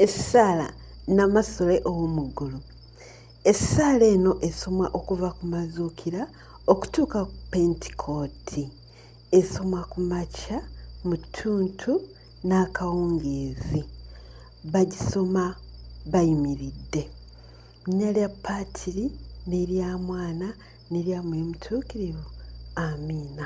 essaala namasole ow'omu ggulu essaala eno esomwa okuva ku mazuukira okutuuka ku pentikooti esomwa ku makya mu ttuntu n'akawungeezi bagisoma bayimiridde nnya lya paatiri n'erya mwana n'erya mwoyo mutuukirivu amiina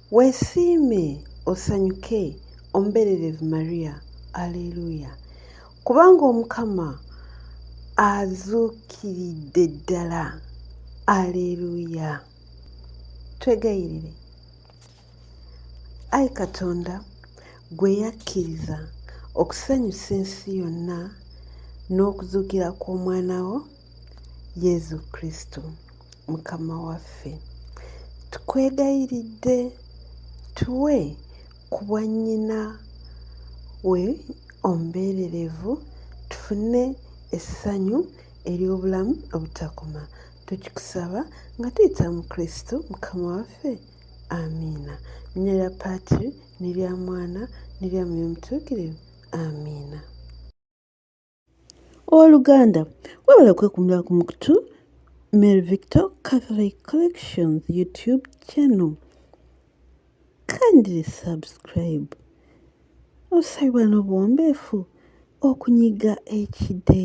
Weesiime osanyuke omubererevu Maria. Aleluya! Kubanga Omukama azuukiridde ddala. Aleluya! Twegayirire. Ayi Katonda, gwe yakkiriza okusanyusa ensi yonna n'okuzuukira kw'omwana wo, yezu kristo mukama waffe tukwegayiridde tuwe ku bwannyina we omubeererevu tufune essanyu ery'obulamu obutakoma tukikusaba nga tuyita mu kristo mukama waffe amiina nnya lya paatiri ne lya mwana ne lya mwoyo mutuukirivu amiina Ow'oluganda, webale kwekumira ku mukutu Mary Victor Catholic Collections YouTube channel. Kindly subscribe. Osabibwa n'obuwombeefu okunyiga ekide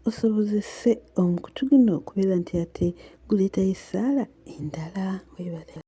osobozese omukutu guno okubeera nti ate guleetayo essaala endala. Webale.